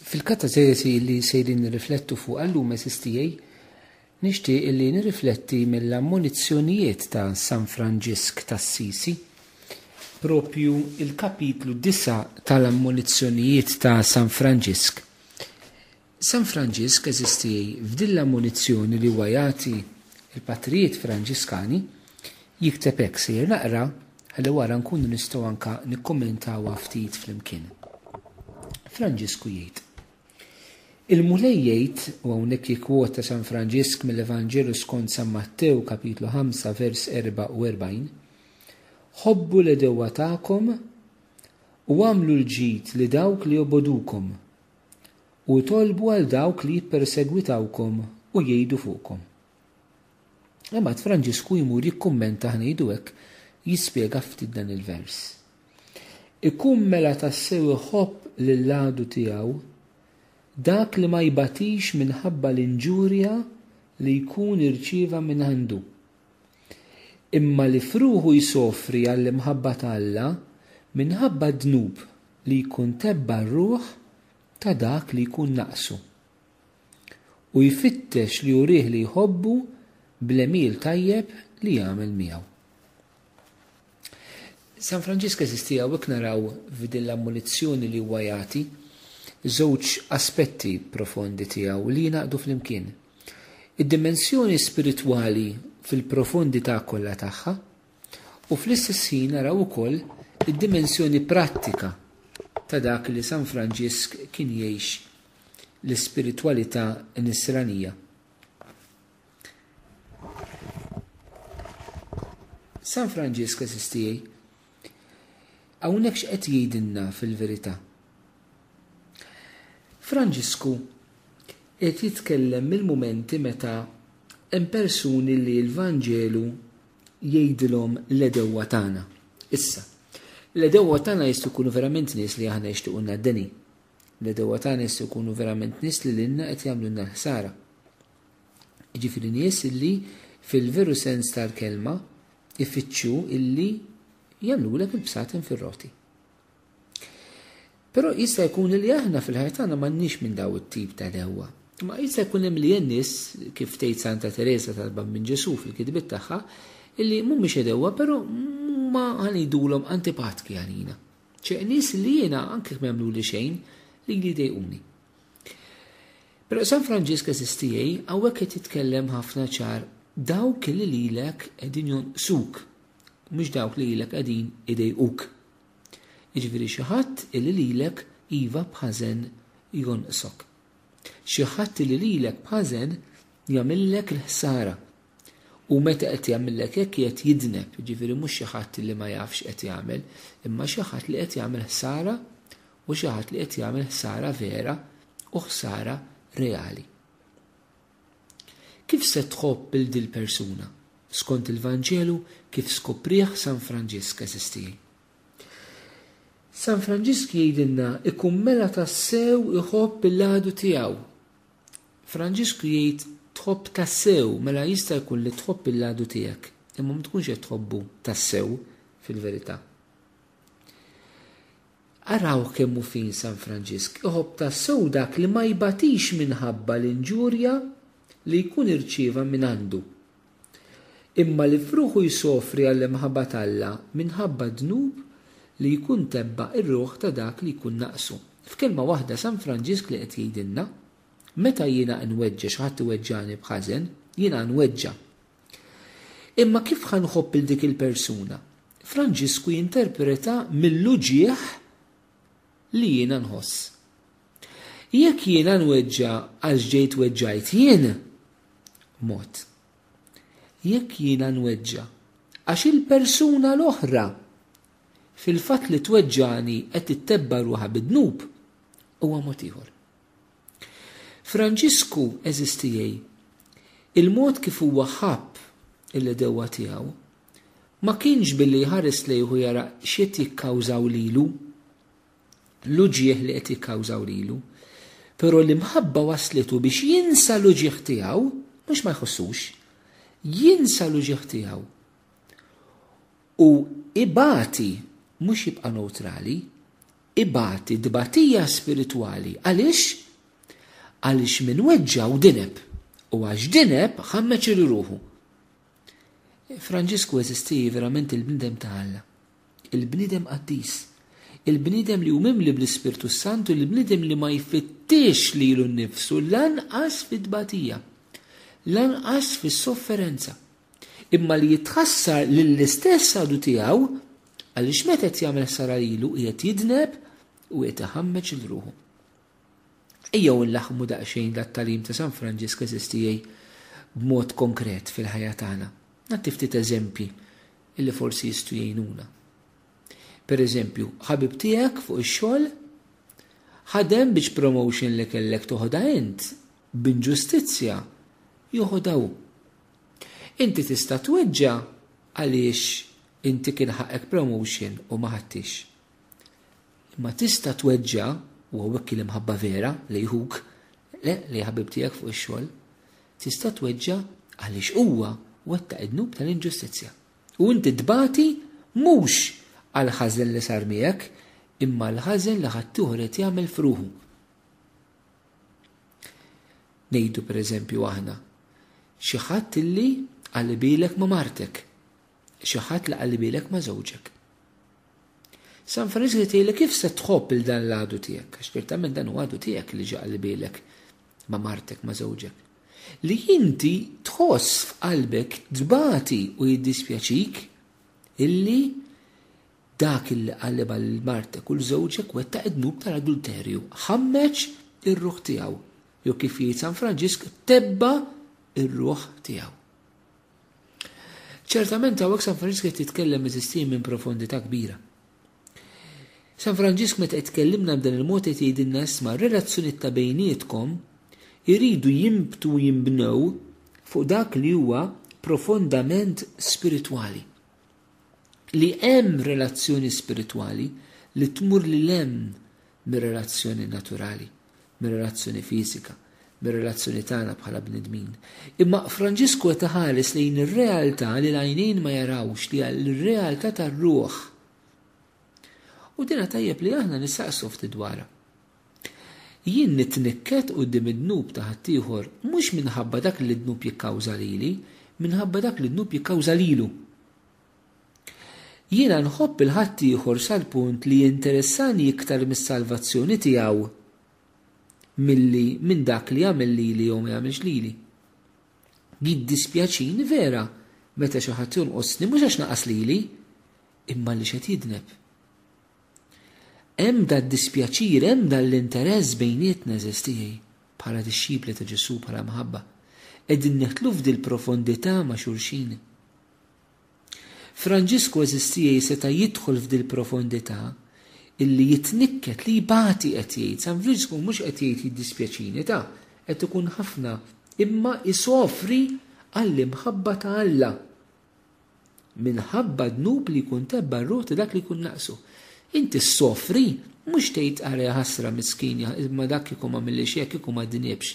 Fil-katażesi li sejrin nirriflettu fuqha llum għeżież tiegħi, nixtieq li nirrifletti mill-ammonizzjonijiet ta' San Franġisk t'Assisi, proprju l-kapitlu disa' tal-ammonizzjonijiet ta' San Franġisk. San Franġisk, għeżież tiegħi, f'din l-ammonizzjoni li huwa jagħti l-Patrijiet Franġiskani, Jikteb hekk, Sejjer naqra ħalli wara nkunu nistgħu anke nikkummentawha ftit flimkien. Franġisku jgħid, Il-Mulej jgħid, u hawnhekk jikkwota San Franġisk mill-Evanġelu skont San Mattew kapitlu 5 vers 44, Ħobbu l-għedewwa tagħkom u għamlu l-ġid li dawk li jobgħodukom u tolbu għal dawk li jippersegwitawkom u jgħidu fuqkom. Imbagħad Franġisku jmur jikkummenta aħna ngħidu hekk, jispjega ftit dan il-vers. Ikun mela tassew iħobb lill-għadu tiegħu dak li ma jbatix minħabba l-inġurja li jkun irċieva mingħandu, imma li f'ruħu jsofri għall-imħabba ta' Alla minħabba d-dnub li jkun tebba r-ruħ ta' dak li jkun naqsu. u jfittex li jurih li jħobbu bl-għemil tajjeb li jagħmel miegħu. San Franġisk eżisti hawnhekk naraw f'din l-ammonizzjoni li huwa jagħti żewġ aspetti profondi tiegħu li jingħaqdu flimkien. Id-dimensjoni spiritwali fil-profondità kollha tagħha, U fl-istess ħin naraw ukoll id-dimensjoni prattika ta' dak li San Franġisk kien jgħix l-ispiritwalità nisranija. San Franġisk eżis tiegħi hawnhekk x'qed jgħidilna fil-verità. Franġisku qed jitkellem mill-mumenti meta hemm persuni li l-Vanġelu jgħidilhom l-għedewwa tagħna. Issa, l-għedewwa tagħna jistgħu jkunu verament nies li aħna jixtiequlna d-deni. L-għedewwa tagħna jistgħu jkunu verament nies li lilna qed jagħmlulna l-ħsara. Jiġifieri nies illi fil-veru sens tal-kelma ifittxu illi jagħmlulek il-bsaten fir-roti. Però jista' jkun li aħna fil-ħajja tagħna m'għandniex minn daw it-tip ta' dewwa. Imma jista' jkun hemm li hemm nies, kif tgħid Santa Teresa tal-Bambin Ġesù fil-kitbiet tagħha, illi mhumiex dewwa però huma ħa ngħidulhom antipatki għalina. Ċe nies li jiena anke jekk ma jagħmluli xejn, lili jdejquni. Però San Franġisk eżis tiegħi hawnhekk qed jitkellem ħafna ċar dawk li lilek qegħdin jonqsuk, mhux dawk li lilek qegħdin idejquk. Jiġifieri xi ħadd illi lilek iva b'ħażen jonqsok. Xi ħadd illi lilek b'ħażen jagħmillek il-ħsara. U meta qed jagħmillek hekk qiegħed jidneb, jiġifieri mhux xi ħadd illi ma jafx qed jagħmel, imma xi ħadd li qed jagħmel ħsara u xi ħadd li qed jagħmel ħsara vera u ħsara reali. Kif se tħobb lil dil-persuna? Skont il-Vanġelu kif skoprih San Franġisk, għeżież tiegħi. San Franġisk jgħidilna ikun mela tassew iħobb il-għadu tiegħu. Franġisku jgħid tħobb tassew, mela jista' jkun li tħobb il-għadu tiegħek, imma ma tkunx qed tħobbu tassew fil-verità. Araw kemm hu fin San Franġisk iħobb tassew dak li ma jbatix minħabba l-inġurja li jkun irċieva mingħandu, imma li f'ruħu jsofri għall-imħabba t'Alla minħabba d-dnub li jkun tebba r-ruħ ta' dak li jkun naqsu. F'kelma waħda San Franġisk li qed jgħidilna, Meta jiena nweġġa' xi ħadd iweġġagħni b'ħażen, jiena nweġġa'. Imma kif ħa nħobb 'il dik il-persuna? Franġisku jinterpreta mill-uġigħ li jiena nħoss. Jekk jiena nweġġa' għax ġejt weġġajt jien, mod. Jekk jiena nweġġa' għax il-persuna l-oħra fil-fatt li tweġġagħni qed tittebba' ruħha bid-dnub, huwa mod ieħor. Franġisku, għeżież tiegħi, il-mod kif huwa ħabb il-għedewwa tiegħu Ma kienx billi jħares lejh u jara x'qed jikkawżaw lilu, l-uġigħ li qed jikkawżaw lilu. Però l-imħabba wasslitu biex jinsa l-uġigħ tiegħu, mhux ma jħossux, jinsa l-uġigħ tiegħu u ibati, mhux jibqa' newtrali, ibati tbatija spiritwali. Għaliex? Għaliex min weġġa' hu dineb, u għax dineb ħammeġ il-ruħu. Franġisku eżisti verament il-bniedem ta' Alla, il-bniedem qaddis, il-bniedem li hu mimli bl-Ispirtu s-Santu, il-bniedem li ma jfittixx lilu nnifsu lanqas fit-tbatija, lanqas fis-sofferenza, imma li jitħassar lill-istess għadu tiegħu għaliex meta qed jagħmel ħsara lilu qiegħed jidneb u qiegħed iħammeġ lil ruħu. Ejjew inlaħħmu daqsxejn dat-tagħlim ta' San Franġisk għeżież tiegħi b'mod konkret fil-ħajja tagħna. Nagħti ftit eżempji li forsi jistgħu jgħinuna. Pereżempju, ħabib tiegħek fuq ix-xogħol ħadem biex promotion li kellek toħodha int b'inġustizzja joħodha hu. Inti tista' tweġġa' għaliex inti kien ħaqek promotion u ma ħadtix. Imma tista' tweġġa' u hawnhekk l-imħabba vera li jħuk, le li ħabib tiegħek fuq ix-xogħol, tista' tweġġa' għaliex huwa wettaq id-dnub tal-inġustizzja. U inti tbati mhux għall-ħażen li sar miegħek, imma għall-ħażen li ħaddieħor qed jagħmel f'ruħu. Ngħidu pereżempju aħna, xi ħadd illi qallibilek ma' martek, xi ħadd li qallibilek ma' żewġek. San Franġiż li tgħidlek kif se tħobb lil dan l-għadu tiegħek, għax ċertament dan huwa għadu tiegħek li ġie qalbielek ma' martek, ma' żewġek, li inti tħoss f'qalbek tbati u jiddispjaċik illi dak illi qallibha lil martek u 'l żewġek wettaq id-dnub tal-adulterju, ħammeġ ir-ruħ tiegħu, jew kif jgħid San Franġisk tebba' r-ruħ tiegħu. Ċertament hawnhekk San Franġisk qed jitkellem miżistien minn profondità kbira. San Franġisk meta qed tkellimna b'dan il-mod qed jgħidilna isma' r-relazzjonijiet ta' bejnietkom iridu jinbtu u jinbnew fuq dak li huwa profondament spiritwali. li hemm relazzjoni spiritwali li tmur lil hemm mir-relazzjoni naturali, mir-relazzjoni fiżika, mir-relazzjoni tagħna bħala bnedmin. Imma Franġisku qed iħares lejn ir-realtà li l-għajnejn ma jarawx li hija r-realtà tar-ruħ. U dinha tajjeb li aħna nistaqsu ftit dwarha. Jien nitnikket quddiem id-dnub ta' ħaddieħor, mhux minħabba dak li d-dnub jikkawża lili, minħabba dak li d-dnub jikkawża lilu. Jiena nħobb 'il ħaddieħor sal-punt li jinteressani iktar mis-salvazzjoni tiegħu milli minn dak li jagħmel lili jew ma jagħmilx lili. Jiddispjaċini vera meta xi ħadd jonqosni mhux għax naqas lili, imma għaliex qed jidneb. Hemm dad-dispjaċir, hemm dan l-interess bejnietna għeżież tiegħi, bħala dixxipli ta' Ġesù, bħala mħabba. Qegħdin neħtlu f'dil-profondità ma' xulxin. Franġisku għeżież tiegħi seta' jidħol f'dil-profondità illi jitnikket, li jbati qed jgħid. San Franġisku mhux qed jgħid jiddispjaċini, ta, qed ikun ħafna, imma jsofri għall-imħabba ta' Alla. minħabba d-dnub li jkun tebba' r-ruħ ta' dak li jkun naqsu. Inti ssofri, mhux tgħid ara ja ħasra miskin ja imma dak kieku ma għamillix hekk kieku ma dniebx.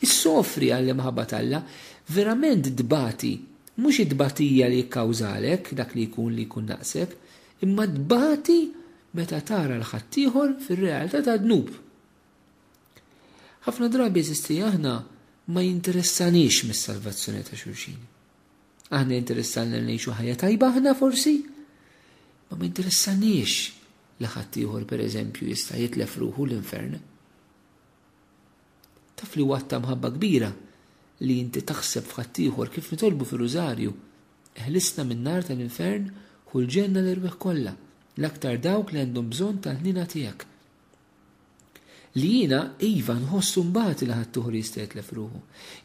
Issofri għall-imħabba t'Alla. Verament tbati, mhux it-tbatija li jikkawżalek dak li jkun li jkun naqsek, imma tbati meta tara 'l ħaddieħor fir-realtà tad-dnub. Ħafna drabi għeżiż tiegħi aħna ma jinteressanix mis-salvazzjoni ta' xulxin. Aħna jinteressalna li ngħixu ħajja tajba aħna forsi, ma minteressanix li ħadd ieħor pereżempju jista' jitlef ruħu l-infern. Taf li huwa ta' mħabba kbira li inti taħseb f'ħadd ieħor kif nitolbu fir-Rużarju, eħlisna min-nar tal-infern hu l-ġenna l-erwieħ kollha, l-aktar dawk li għandhom bżonn tal-ħnina tiegħek. Li jiena, iva, nħossu mbagħati li ħaddieħor jistgħetlef ruħu.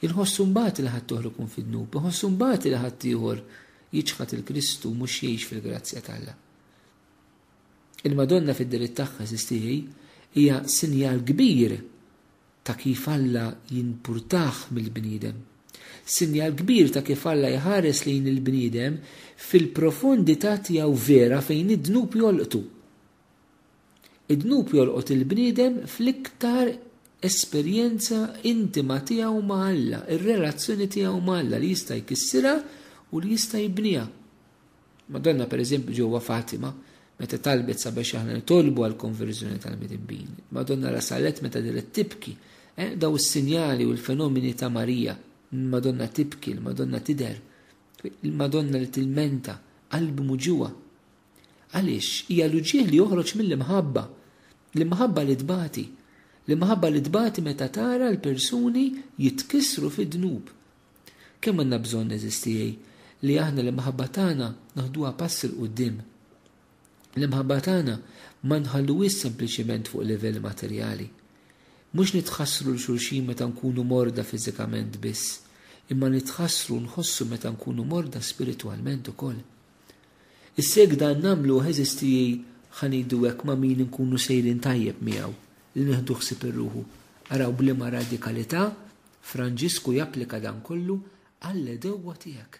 Inħossu mbagħati li ħaddieħor ikun fid-dnub. Inħossu mbagħati li ħaddieħor jiċħad 'il Kristu u mhux jgħix fil-grazzja t'Alla. Il-Madonna fid-delitt tagħha, sistieħi, hija sinjal kbir ta' kif Alla jinpurtah mill-bniedem. Sinjal kbir ta' kif Alla jħares lejn il-bniedem fil-profondità tiegħu vera fejn id-dnub jolqtu. Id-dnub jolqot il-bniedem fl-iktar esperjenza intima tiegħu ma' Alla, ir-relazzjoni tiegħu ma' Alla li jista' jkissirha u li jista' jibniha. Madonna pereżempju ġewwa Fatima, meta talbet sabiex aħna nitolbu għall-konverżjoni tal-midinbin. Madonna rasalet meta deret tibki. Eh, daw is-sinjali u l-fenomeni ta' Marija. Il-Madonna tibki, il-Madonna tidher, il-Madonna li tilmenta, qalb muġuha. Għaliex hija l-uġigħ li joħroġ mill-imħabba, l-imħabba li tbati, l-imħabba li tbati meta tara l-persuni jitkissru fid-dnub. Kemm għandna bżonn, għeżież tiegħi, li aħna l-imħabba tagħna naħduha pass 'il quddiem. L-imħabba tagħna ma nħalluhiex sempliċement fuq livell materjali. Mhux nitħassru 'l xulxin meta nkunu morda fiżikament biss, imma nitħassru u nħossu meta nkunu morda spiritwalment ukoll. Is-seg dan nagħmluh għeżiż tiegħi ħa ngħidu hekk ma' min inkunu sejrin tajjeb miegħu li nieħdu ħsieb ir-ruħu. Araw b'liema radikalità Franġisku japplika dan kollu għall-għedewwa tiegħek.